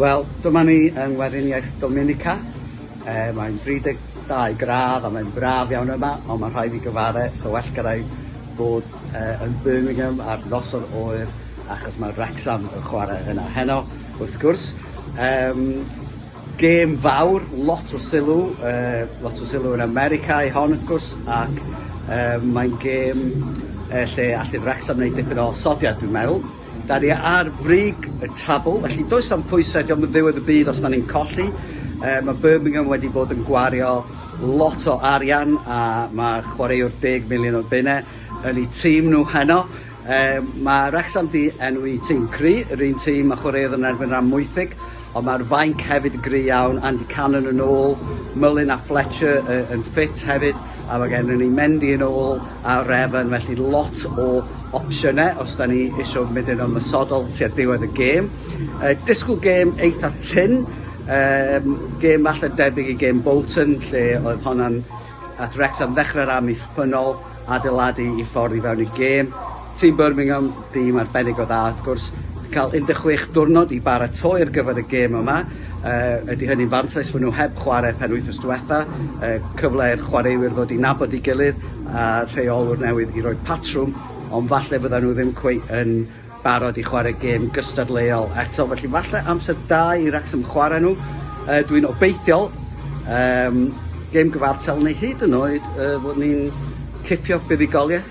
Wel, dyma ni yng Ngweriniaeth Dominica. E, mae'n 32 gradd a mae'n braf iawn yma, ond mae'n rhaid i gyfare, so well gyda i bod e, yn Birmingham ar noson oer, achos mae Wrexham yn chwarae yna heno, wrth gwrs. Um, Gêm fawr, lot o sylw, lot o sylw yn America i hon wrth gwrs ac mae'n gêm lle allai Wrecsam wneud dipyn o osodiad dwi'n meddwl. Da ni ar frig y tabl felly does am pwysau, dio'm yn ddiwedd y byd os da ni'n colli. Mae Birmingham wedi bod yn gwario lot o arian a mae chwaraewr deg miliwn o bunne yn eu tîm nhw heno. Mae Wrecsam 'di enwi tîm cry', yr un tîm a chwaraeodd yn erbyn Amwythig, ond mae'r fainc hefyd yn gry' iawn, Andy Cannon yn ôl, Mullin a Fletcher yn ffit hefyd, a mae gennym ni Mendy yn ôl a Revan, felly lot o opsiynau os 'da ni isio mynd yn ymosodol tua diwedd y gêm. Disgwyl gêm eitha' tynn, gêm falle debyg i gêm Bolton lle oedd honna'n at Wrecsam ddechrau rhan i ffynol. adeiladu i ffordd i fewn i gêm. Tîm Birmingham, dîm arbennig o dda wrth gwrs, cael 16 diwrnod i baratoi ar gyfer y gêm yma. Uh, ydy hynny'n fantais fod nhw heb chwarae pen wythnos diwetha, uh, cyfle i'r chwaraewyr ddod i nabod i gilydd a rheolwr newydd i roi patrwm, ond falle fydda nhw ddim cweith yn barod i chwarae gêm gystadleuol eto, felly falle amser da i Wrecsam chwarae nhw. Uh, Dwi'n obeithiol, um, gêm gyfartal neu hyd yn oed uh, fod ni'n cipio buddugoliaeth,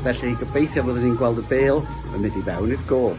felly gobeithio fod ni'n gweld y bel yn mynd i fewn i'r gol.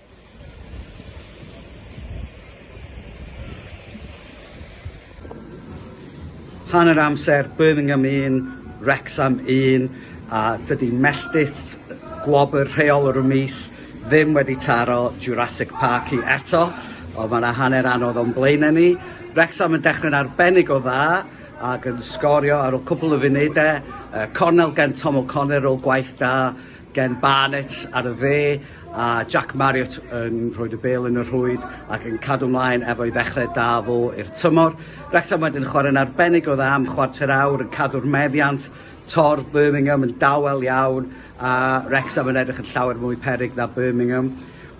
Hanner amser Birmingham 1, Wrecsam 1 a dydy melltith gwobr rheol yr mis ddim wedi taro Jurassic Park i eto, ond mae yna hanner anodd o'n blaenau ni. Wrecsam yn dechrau'n arbennig o dda ac yn sgorio ar ôl cwpl o funudau. Cornel gen Tom O'Connor ôl gwaith da. Gen Barnett ar y dde a Jack Marriott yn rhoid y bêl yn y rhwyd ac yn cadw mlaen efo'i ddechrau da fo i'r tymor. Wrexham wedyn yn chwarae'n arbennig o dda am chwarter awr yn cadw'r meddiant, torf Birmingham yn dawel iawn a Wrexham yn edrych yn llawer mwy peryg na Birmingham.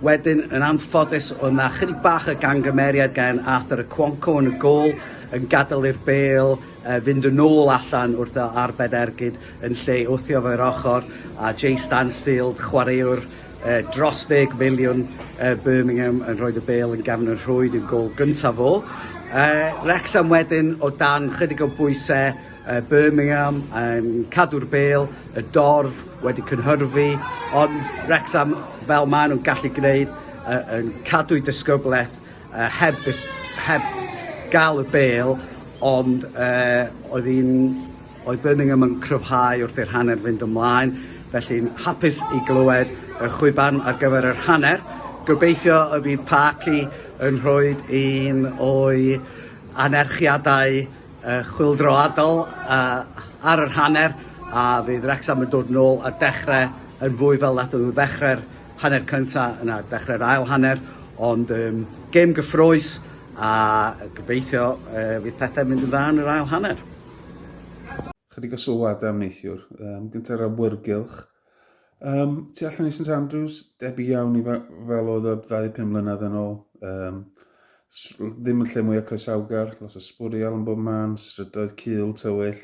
Wedyn yn anffodus o na chydig bach o gangymeriad gan Arthur Okonkwo yn y gol yn gadael i'r bêl fynd yn ôl allan wrth a arbed ergyd yn lle wthio fo i'r ochor, a Jay Stansfield, chwaraewr yy dros ddeg miliwn yy Birmingham yn rhoid y bêl yn gefn y rhwyd yn gôl gynta fo. Yy Wrecsam wedyn o dan chydig o bwyse yy Birmingham yn cadw'r bêl, y dorf wedi cynhyrfu, ond Wrecsam fel mae nhw'n gallu gneud yy yn cadw'u disgyblaeth Yy heb y s- heb ga'l y bêl ond yy oedd 'i'n oedd Birmingham yn cryfhau wrth i'r hanner fynd ymlaen felly'n hapus i glywed y chwiban ar gyfer yr hanner. Gobeithio y bydd Parky yn rhoid un o'i anerchiadau yy chwyldroadol yy ar yr hanner a fydd Wrecsam yn dod nôl a dechre yn fwy fel nathon nhw ddechre'r hanner cyntaf, yna dechrau'r ail hanner, ond um, gêm gyffroes a gobeithio uh, fydd pethau mynd yn dda yn yr ail hanner. Chydig o sylwadau am neithiwr, um, gyntaf awyrgylch. Um, tu allan i St Andrews, debyg iawn i fel oedd y 25 mlynedd yn ôl. Um, ddim yn lle mwyaf coesawgar, los o sbwriel yn bob man, strydoedd cil, tywyll,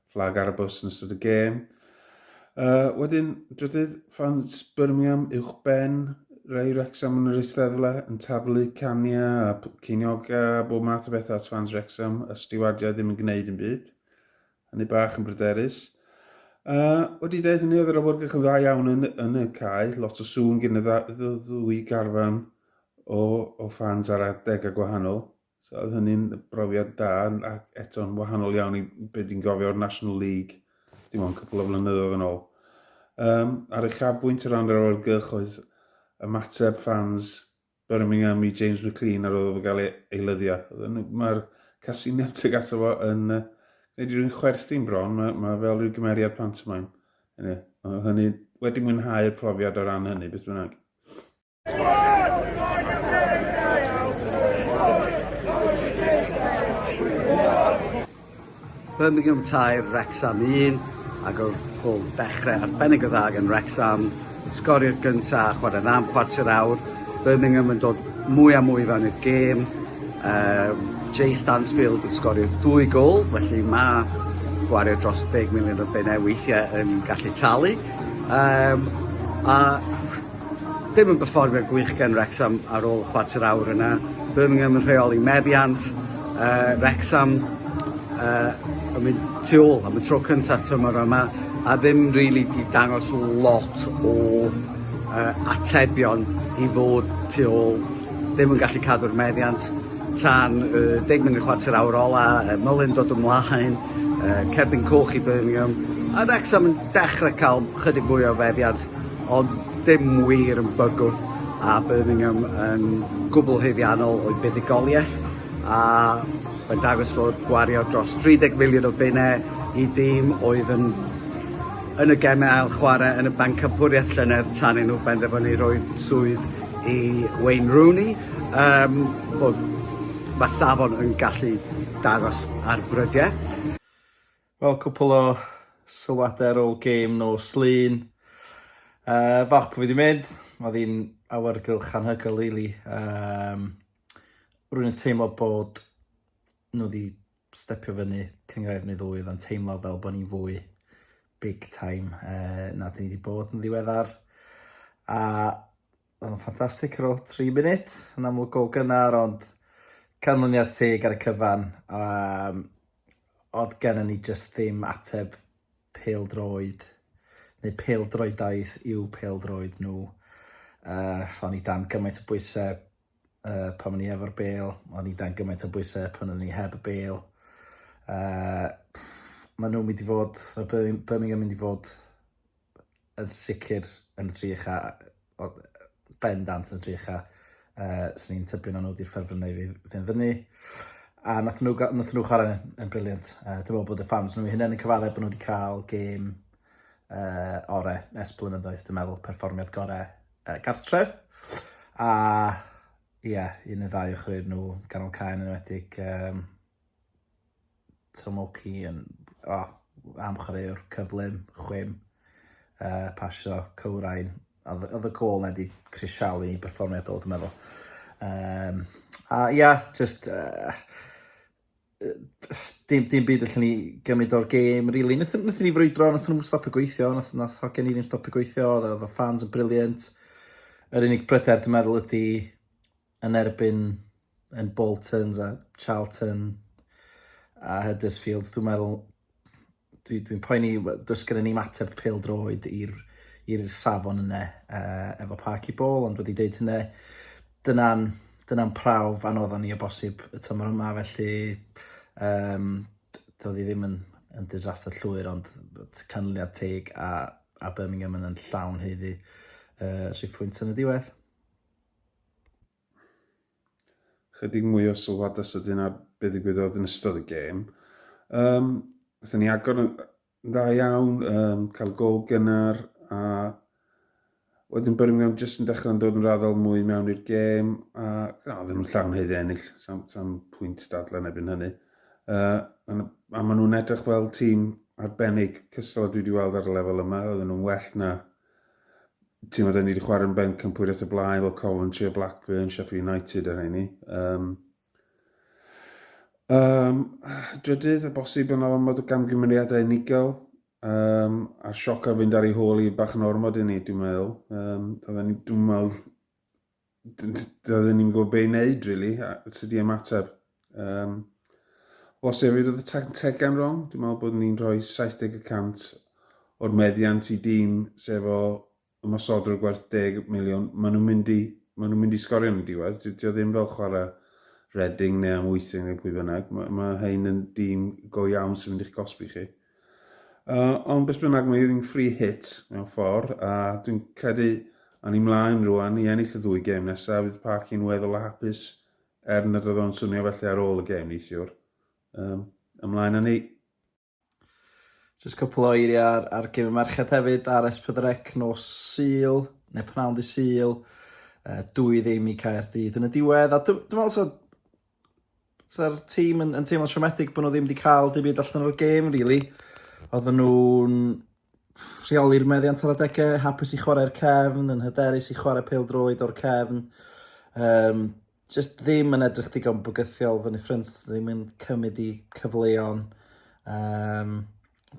fflag ar y bws yn ystod y gêm. Uh, wedyn, drydydd, ffans Birmingham uwch ben, rhai Wrexham yn yr eisteddle yn taflu cania a cynioga a bob math o bethau at fans Wrexham a stiwardiau ddim yn gwneud yn byd. Hynny bach yn bryderus. Uh, wedi dweud hynny, oedd yr awyrgych yn dda iawn yn, yn y cae, lot o sŵn gen y ddwy garfan o, o fans ar adeg a gwahanol. So oedd hynny'n brofiad da, ac eto'n wahanol iawn i beth dwi'n gofio o'r National League, dim ond cwpl o flynyddoedd yn ôl. Um, ar eich afbwynt o ran yr awyrgylch oedd ymateb ffans Birmingham i James McLean ar ôl gael ei eilyddio. Mae'r casiniau teg ato fo yn uh, gwneud rhywun chwerthin bron, mae, mae fel rhyw gymeriad pantomaim. Anyway, hynny, wedi mwynhau'r profiad o ran hynny, beth bynnag. Birmingham 3, Wrexham 1 ac oedd gol dechrau arbennig o dda gan Wrexham. Sgori'r gynta a chwarae dda am chwarter awr. Birmingham yn dod mwy a mwy fan i'r gêm. Uh, Jay Stansfield yn sgorio dwy gol, felly mae gwario dros 10 miliwn o bennau weithiau yn gallu talu. Um, a Dim yn berfformiad gwych gen Wrecsam ar ôl y chwarter awr yna. Birmingham yn rheoli meddiant yy Wrecsam yy yn mynd tu ôl am y tro cynta tymor yma a ddim rili 'di dangos lot o yy atebion i fod tu ôl, ddim yn gallu cadw'r meddiant tan y deg munud chwarter awr ola yy Mullin dod ymlaen yy cerdyn coch i Birmingham a Wrecsam yn dechre ca'l chydig mwy o feddiant. Ond ddim wir yn bygwth a Birmingham yn gwbl haeddiannol o'i buddugoliaeth a mae'n dangos fod gwario dros 30 miliwn o bunne i dîm oedd yn yn y geme ail chware yn y bencampwriaeth llynedd tan i nhw benderfynu rhoi swydd i Wayne Rooney yym bod ma' safon yn gallu dangos ar brydia. Wel cwpwl o sylwade ar ôl gêm nos Lun. Uh, falch bod fi wedi mynd, oedd hi'n awyrgylch anhygoel really. Um, rwy'n teimlo bod nhw wedi stepio fyny cyngrair neu ddwy oedd yn teimlo fel bod ni'n fwy big time uh, na dyn ni wedi bod yn ddiweddar. A Wel, ffantastig ar ôl tri munud, yn amlwg gol gynnar ond canlyniad teg ar y cyfan. Um, oedd gennym ni jyst ddim ateb peldroed, neu peldroedaidd i'w peldroed nhw. Uh, o'n i dan gymaint o bwysau uh, pan o'n i efo'r bel, o'n i dan gymaint o bwysau pan o'n i heb y bel. Uh, maen nhw'n mynd i fod, y Birmingham mynd i fod yn sicr yn y tri ucha, bendant yn y tri ucha, uh, sy'n ni'n tybio na nhw wedi'r ffefrynnau i fynd fyny. A nath nhw, nath nhw chwarae yn, yn briliant. Uh, Dwi'n meddwl bod y ffans nhw hynny'n yn cyfaddau bod nhw wedi cael gêm uh, ore es blynyddoedd, dwi'n meddwl, perfformiad gorau uh, gartref. A ie, yeah, un neu ddau ochryd nhw, ganol cael yn enwedig um, Tomoki yn o am chwaraewr cyflym, chwim, uh, pasio, cywrain. Oedd oedd y gol na di crisialu i berfformiad o, dwi'n meddwl. Um, a ia, yeah, just... Uh, dim, dim byd allan ni gymryd o'r gêm, really. Nethon, nethon ni frwydro, nethon nhw'n stopio gweithio, nath, nath hogen ni ddim stopio gweithio, oedd y fans yn briliant. Yr unig bryder dwi'n meddwl ydy yn erbyn yn Boltons a Charlton a Huddersfield, dwi'n meddwl, dwi'n dwi poeni, does gen i ni mateb pêl droed i'r i'r safon yna uh, efo Park i Bôl, ond wedi deud hynny, dyna'n dyna prawf anodd ni o bosib y tymor yma, felly um, doedd hi ddim yn, yn disaster llwyr, ond canlyniad teg a, a Birmingham yn llawn heiddi uh, rhif pwynt yn y diwedd. Chydig mwy o sylwadau sydyn ar be ddigwyddodd yn ystod y gêm. Um, Fythyn ni agor yn dda iawn, um, cael gol gynnar a wedyn Birmingham jyst yn dechrau'n dod yn raddol mwy mewn i'r gêm a na, ddim yn llawn heiddi ennill, sam, sam pwynt dadle yn ebyn hynny. Uh, a maen nhw'n edrych fel tîm arbennig cystal a dwi wedi weld ar y lefel yma, oedden nhw'n well na ti'n meddwl, ni wedi chwarae yn ben campwriaeth y blaen, fel Coventry a Blackburn, Sheffield United a rheini. Um, um, drydydd, a bosib yn ormod o gamgymeriadau unigol, um, a sioc ar fynd ar ei hôl i bach yn ormod i ni, dwi'n meddwl. Um, dwi'n meddwl, Doeddwn ni'n gwybod be i wneud, really, a sut i ymateb. Um, os efyd oedd y tactegau'n wrong, dwi'n meddwl bod ni'n rhoi 70% o'r meddiant i dîm sef o ymosodwr gwerth 10 miliwn. Maen nhw'n mynd i, maen nhw'n mynd i sgorio yn y diwedd. Dydy o ddim fel chwarae Reading neu am Amwythig neu pwy bynnag. Mae, mae hein yn dîm go iawn sy'n mynd i'ch gosbi chi. Uh, ond beth bynnag, mae un free hit mewn ffordd, a dwi'n credu a ni mlaen rwan i ennill y ddwy gêm nesaf, fydd Parc yn weddol a hapus er nad oedd o'n swnio felly ar ôl y gêm neithiwr. Um, ymlaen â ni. Just cwpl o eiriau ar, ar gêm y merched hefyd ar Esbydrec nos Sul, neu pnawn di Sul, uh, dwy ddim i Caerdydd yn y diwedd. A dwi'n meddwl so, Sa'r tîm yn, yn teimlo siomedig bod nhw ddim wedi cael dim byd allan o'r gêm, really. Oedden nhw'n rheoli'r meddiant ar adegau, hapus i chwarae'r cefn, yn hyderus i chwarae pêl droed o'r cefn. Um, just ddim yn edrych digon bygythiol, fy ffryns ddim yn cymryd i cyfleon. Um,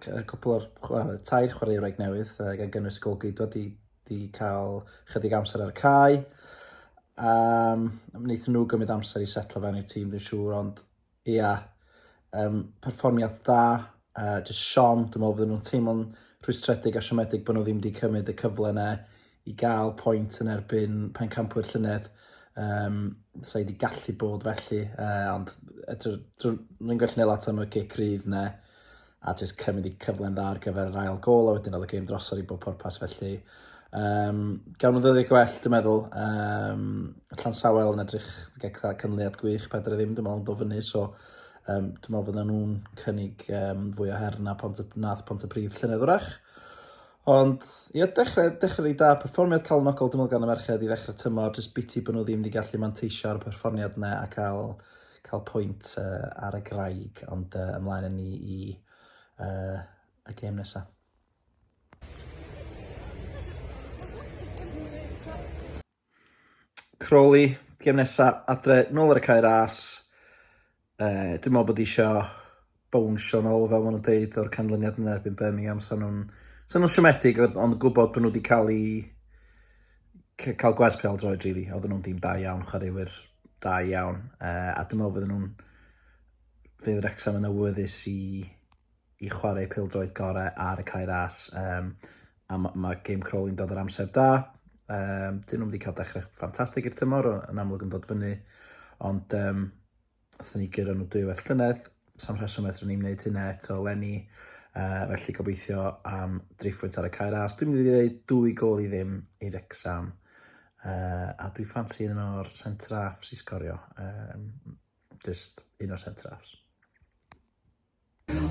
cwpl o'r chwarae, tair chwaraewraig newydd, uh, gan gynnwys golgeidwa wedi, wedi cael chydig amser ar y cae. Um, wnaethon nhw gymryd amser i setlo fewn i'r tîm, dwi'n siŵr, ond ia, yeah, um, perfformiad da, uh, just Sean, dwi'n meddwl fydden nhw'n teimlo'n rhwystredig a siomedig bod nhw ddim wedi cymryd y cyfle yna i gael pwynt yn erbyn Pencampwyr llynedd. Um, Sa'i wedi gallu bod felly, uh, ond rwy'n gallu neud lot am y cic rydd ne, a jyst cymryd i cyfle'n dda ar gyfer yr ail gol, a wedyn oedd y gêm drosodd i bob pwrpas felly. Um, gawn nhw ddyddiau gwell, dwi'n meddwl. Um, Llan Sawel yn edrych gyda cynliad gwych, Pedr e ddim, dwi'n meddwl, yn dod fyny, so um, dwi'n meddwl fydden nhw'n cynnig um, fwy o her na pont y, nath pont y prif llynedd wrach. Ond ia, dechrau, dechrau reit da, perfformiad calonogol dwi'n meddwl gan y merched i ddechrau tymor, jyst biti bod nhw ddim wedi gallu manteisio ar y perfformiad yna a cael, cael pwynt uh, ar y graig, ond uh, ymlaen yn ni i uh, y gêm nesaf. Crawley, gêm nesa, adre, nôl ar y cae ras. Uh, dwi'n meddwl bod eisiau bownsio nôl fel maen nhw'n deud o'r canlyniad yn erbyn Birmingham. Sa'n nhw'n sa nhw siomedig ond gwybod bod nhw wedi cael ei cael gwerth pel droed rili. Really. Oedden nhw'n dim da iawn, chwaraewyr da iawn. Uh, a dwi'n meddwl fydden nhw'n fydd Rexham yn awyddus i i chwarae pildroed gorau ar y cae ras. Um, a mae ma Game Crawley'n dod yr amser da. Um, dyn nhw'n wedi cael dechrau ffantastig i'r tymor, yn amlwg yn dod fyny. Ond um, wrth ni gyrra nhw dwy well llynedd, sam rheswm eto ni'n gwneud hynna eto lenni. Uh, felly gobeithio am driffwynt ar y cair as. Dwi'n mynd i ddweud dwy gol i ddim i Rexham. Uh, a dwi'n ffansi un o'r centre-halfs i sgorio. Um, just un o'r centre-halfs.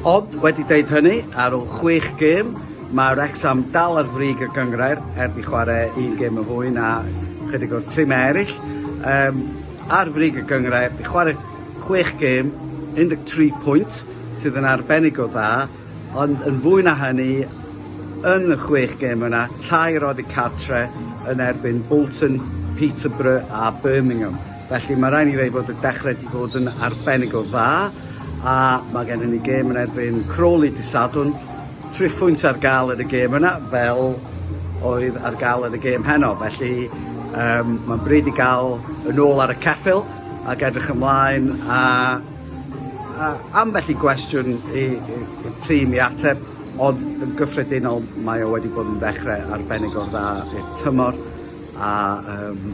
Ond, wedi deud hynny, ar ôl chwech gêm, mae Wrecsam dal ar frig y gynghrair, heb i chwarae un gêm yn fwy na chydig o'r trimau eraill. Yym, ar frig y gynghrair, di chwarae chwech gêm, 13 pwynt, sydd yn arbennig o dda, ond yn fwy na hynny, yn y chwech gêm yna, tair oddi cartre yn erbyn Bolton, Peterborough a Birmingham. Felly mae rhaid ni ddweud bod y dechrau wedi bod yn arbennig o dda a mae gennym ni gêm yn erbyn Crawley dydd Sadwrn, tri phwynt ar gael yn y gêm yna fel oedd ar gael yn y gêm heno. Felly um, mae'n bryd i gael yn ôl ar y ceffil ac edrych ymlaen a, a ambell i gwestiwn i, i, i tîm i ateb ond yn gyffredinol mae o wedi bod yn ddechrau arbennig o'r dda i'r tymor a um,